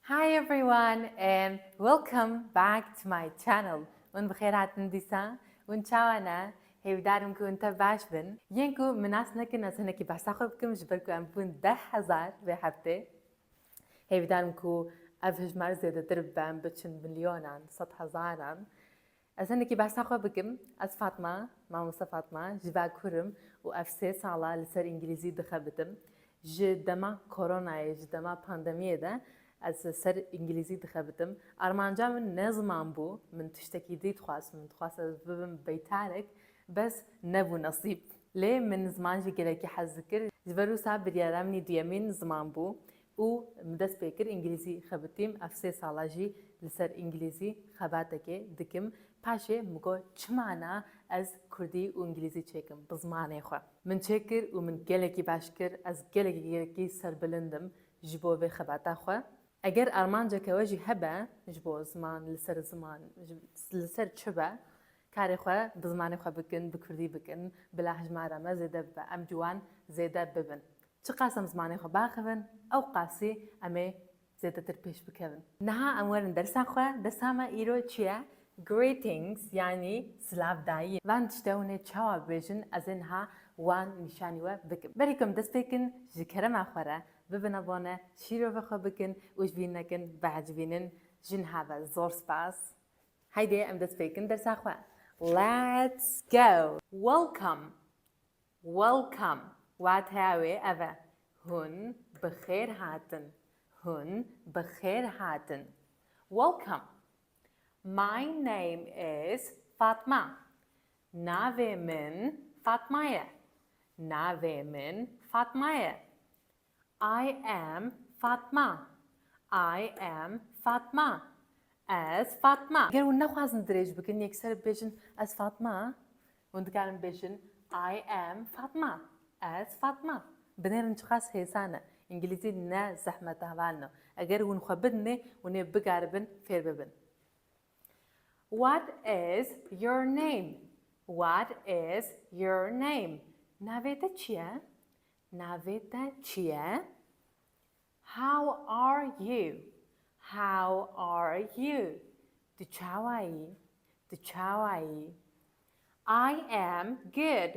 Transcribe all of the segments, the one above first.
Hi everyone and welcome back to my channel Hûn bi xêr hatin dîsa? Hûn çawa ne? Hêvîdar im ku hûn te baş bin. Yên ku min nas nekin ez hinekî behsa xwe bikim ji ber ku em bûn deh hezar vê heftê. Hêvîdar im ku ev hijmar zêdetir bibe em biçin milyonan, sed hezaran. Ez hinekî behsa xwe bikim, ez Fatma, mamoste Fatma, ji ber kur im û ev sê sala li ser îngilîzî dixebitim. Ji dema koronayê, ji dema pandemiyê de ez li ser îngilîzî dixebitim. Armanca min ne ziman bû, min tiştekî dî dixwest, min dixwest ez bibim beytarek, bes nebû nesîb. Lê min ziman jî gelekî hez dikir, ji ber wisa biryara min î duyemîn ziman bû. û min dest pê kir îngilîzî xebitîm, ev sê sal e jî li ser îngilîzî xebatekê dikim, paşê min got çima na ez kurdî û îngilîzî çêkim bi zimanê xwe. Min çêkir û min gelekî baş kir, ez gelekî gelekî serbilind im ji bo vê xebata xwe. Eger armanceke we jî hebe ji bo ziman li ser ziman li ser çi be karê xwe bi zimanê xwe bikin, bi kurdî bikin, bila hejmara me zêde bibe, em ciwan zêde bibin. Çiqas em zimanê xwe biaxivin ew qasî em ê zêdetir pêş bikevin. Niha em werin dersa xwe. Dersa me îro çi ye? Greetings yanî silavdayîn. Van tişte hûn ê çawa bibêjin ez ê niha wan nîşanî we bikim. Berî ku em dest pê kin ji kerema xwe re bibin abone, şîrovê xwe bikin û ji bîr nekin biecivînin. Ji niha ve zor spas. Heydê em dest pê kin dersa xwe. Let's go! Welcome! Welcome, wateya wê ev e, Hûn bi xêr hatin, Hûn bi xêr hatin. Welcome. My name is Fatma, Navê min Fatma ye, Navê min Fatma ye. I am Fatma I am Fatma Ez Fatma Ger hûn nexwazin dirêj bikin yekser bibêjin Ez Fatma hûn dikarin bibêjin I am Fatma Ez Fatma Binêrin çiqas hêsan e. Îngilîzî ne zehmet e hevalin e. Eger hûn xwe bidinê hûn ê bikaribin fêr bibin. What is your name? What is your name? Navê te çi ye? Navê te çi ye? How are you? How are you? Tu çawa yî? Tu çawa yî? I am good.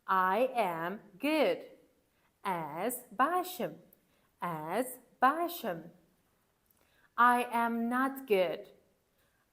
I am good. Ez baş im. Ez baş im. I am not good.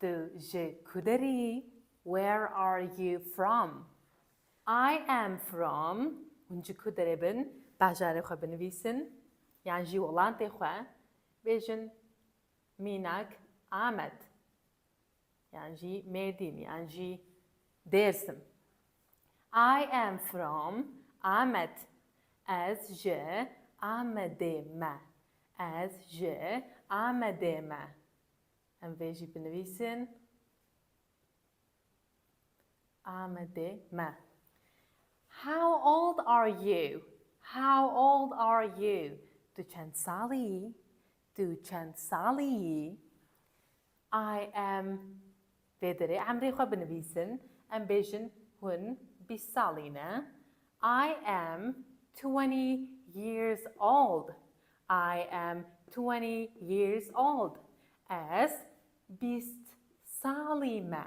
Tu ji ku derê yî? Where are you from? I am from Hûn ji ku derê bin? Bajarê xwe binivîsin yan jî welatê xwe bêjin mînak Amed yan jî Mêrdîn yan jî Dêrsim. I am from Amed Ez ji Amedê me Ez ji Amedê me Em vê jî binivîsin Amedê me. How old are you? How old are you? Tu çend salî yî? Tu çend salî yî? I am Vê derê emrê xwe binivîsin, em bêjin hûn bîst salî ne, I am twenty years old, I am twenty years old, ez bîst salî me,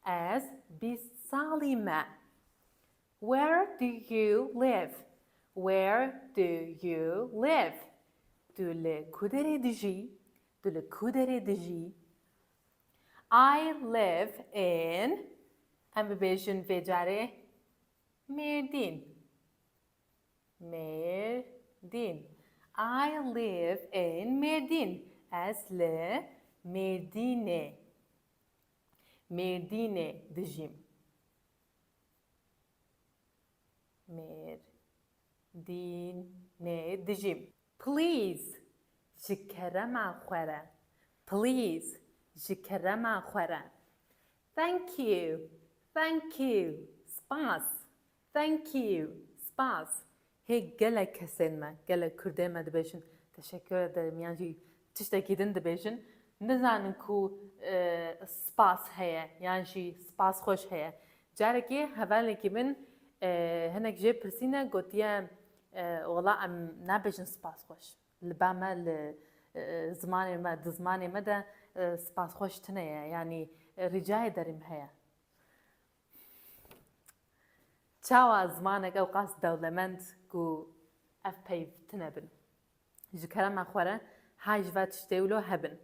ez bîst salî me. Where do you live? Where do you live? Tu li ku derê dijî? Tu li ku derê dijî? I live in em bibêjin vê carê Mêrdîn. Mêrdîn. I live in Mêrdîn. Ez li Mêrdînê. Mêrdînê dijîm. Mêrdînê dijîm. Please, ji kerema xwe re. Please, ji kerema xwe re. Thank you, thank you, spas, thank you, spas. Hê gelek kesên me, gelek kurdên me dibêjin teşekkür ederim yan jî tiştekî din dibêjin, nizanin ku spas heye yan jî spas xweş heye. Carekê hevalekî min hinek jê pirsîne gotiye Wala em nabêjin spasxweş. Li ba me li zimanê me di zimanê me de spasxweş tune ye yanî rîcayê derîm heye. Çawa zimanek ewqas dewlemend ku ev peyv tune bin. Ji kerema xwe re hay ji va tiştê wilo hebin.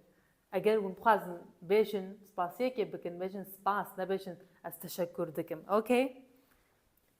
Eger hûn bixwazin bêjin spasiyekê bikin bêjin spas nebêjin ez teşekur dikim. Okey.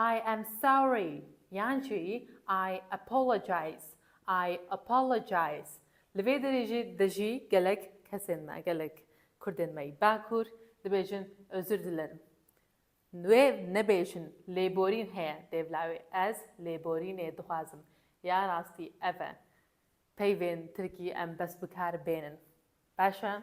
I am sorry yan jî I apologize, I apologize. Li vê derê de jî gelek kesên me, gelek kurdên me yî bakur dibêjin özür dilerim. Wê nebêjin lêborîn heye dêv lawê. Ez lêborînê dixwazim. Ya rastî ev e. Peyvên tirkî em bes bikar bênin. Baş e?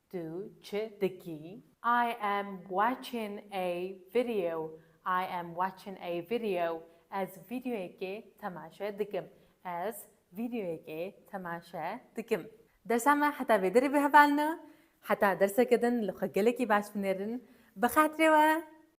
Tu çi dikî? I am watching a video I am watching a video Ez vîdeoyekê temaşe dikim Ez vîdeoyekê temaşe dikim Dersa me heta vê derê bihevalino Heta derseke din li xwe gelekî baş binêrin Bi xatirê we